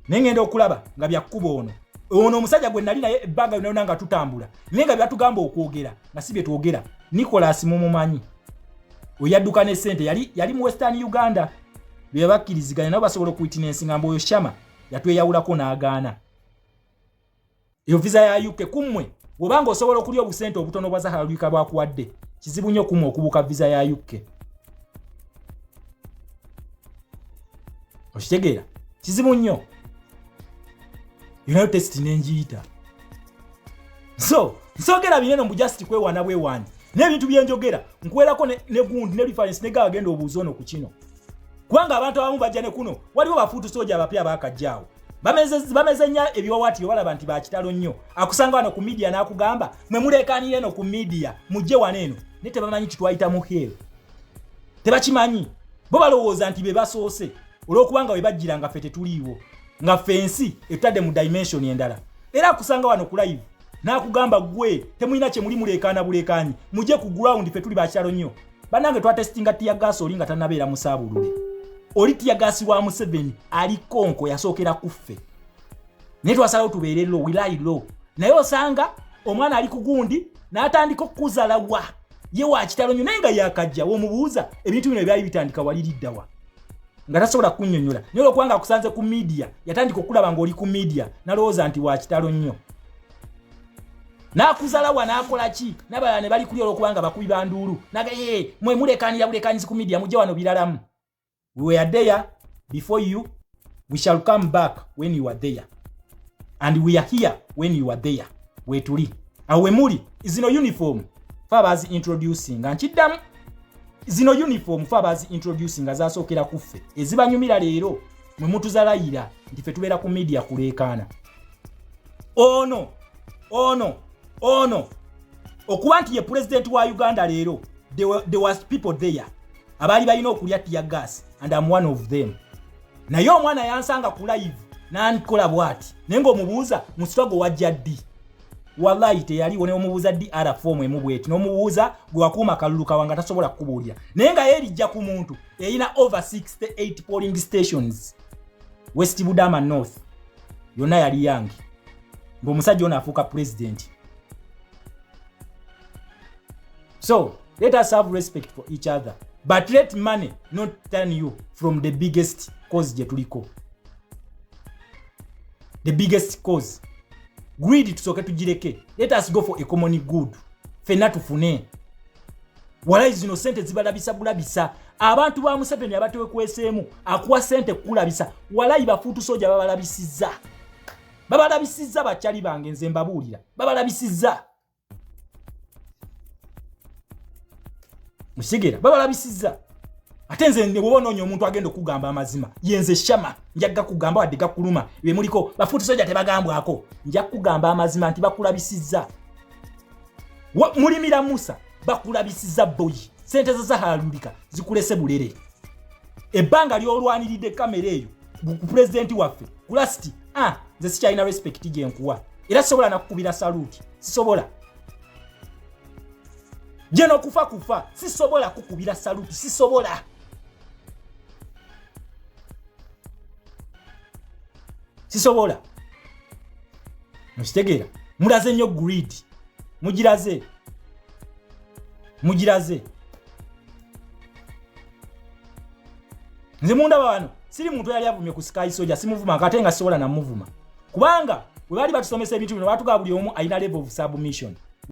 naye ngenda okulaba nga byakkuba ono ono omusajja gwe nali naye ebbanga yonayona nga tutambula naye nga byatugamba okwogera nga si bye twogera nicolas mumumanyi oyadduka ne sente yali yali mu western uganda bebakkiriziganya nabo basobola okuitinensi ngamba oyo shama yatweyawulako n'agaana eyo visa ya uk kummwe webanga osobola okulya obusente obutono bwa zahara lwika bwakuwadde kizibu nnyo kummwe okubuuka visa ya uk okitegeera kizibu nnyo yonayo testi nenjiyita so nsogera bineno mbu just kwewana bwewani n'ebintu byenjogera nkuwerako ne, ne gundi ne reference ne gagenda obuuza ono ku kino kubanga abantu abamu bajja ne kuno waliwo bafuutu soja abapya bakajjaawo bameze nnyo ebiwawaatiro balaba nti bakitalo nnyo akusanga wano ku midiya n'akugamba mwe muleekaanira eno ku midiya mujje wano eno naye tebamanyi kitwayita mu hel tebakimanyi bo balowooza nti be basoose olw'okubanga we bajjira nga ffe tetuliiwo nga ffe ensi etadde mu dimension endala era akusanga wano ku live n'akugamba gwe temulina kye muli muleekaana buleekaanyi muje ku ground ffe tuli bakyalo nnyo bannange twatesitinga tiyagaasi oli nga tanabeera musaabulule oli tiyagaasi wa museveni ali konko yasookera ku ffe naye twasalawo tubeere lo wilayi lo naye osanga omwana ali kugundi n'atandika okukuzala wa ye wakitalo nnyo naye nga yakajja womubuuza ebintu bino ebyali bitandika waliriddawa nga tasobola kunyonyola naye olwokubanga akusanze ku midia yatandika okulaba ngaoli ku midia nalowooza nti wakitalo nnyo nakuzalawa nakola ki nabalala ne bali kuli olwokubanga bakubi banduulu nagaye mwe mulekanira bulekanyizi ku midia mujja wano biralamu we were there before you we shall come back when you are there and we are here when you are there wetuli awe muli zino uniform fa bazi introducinga nkiddamu zino uniform fe abazi introducing nga zasookera ku ffe ezibanyumira leero mwe mutuzalayira nti fe tubeera ku media kuleekaana ono ono ono okuba nti ye pulezidenti wa uganda leero the was people there abaali balina okulya tiya gas and am one of them naye omwana yansanga ku live nankola bwati naye ngaomubuuza musitwago wajja ddi wallahi teyaliwo neomubuuza dr fomu emu bweti nomubuuza gwewakuuma kalulu kawa nga tasobola kukubuulira naye nga yerijja ku muntu erina over 68 polling stations west budama north yonna yali yange ngaomusajja ono afuuka pulezidenti so let us have respect for each other but let money not turn you from the biggest cause gye tuliko the biggest cause greed tusooke tugireke let us go for a common good fenna tufune walayi zino sente zibalabisa bulabisa abantu ba museveni abatewekweseemu akuwa sente kukulabisa walayi bafuutu soja babalabisiza babalabisiza bakyali bange nze mbabuulira babalabisiza musigera babalabisizza ate nze nebwoba onoonya omuntu agenda okugamba amazima yenze shama njagga kugamba wadde gakuluma bemuliko bafuuti soja tebagambwako nja kugamba amazima nti bakulabisizza mulimira musa bakulabisizza boyi sente zo zahalulika zikulese bulere ebbanga lyolwaniridde kamera eyo ku pulezidenti waffe kulasiti a ah, nze sikyalina respect gyenkuwa era sisobola nakukubira saluti sisobola jeno kufa kufa sisobola kukubira saluti sisobola sisobola mukitegeera mulaze nnyo greed mugiraze mugiraze nze mundaba wano siri muntu yali avumye ku sky soja simuvuma kate nga sisobola namuvuma kubanga webaali batusomesa ebintu bino batugaba buli omu alina level of submission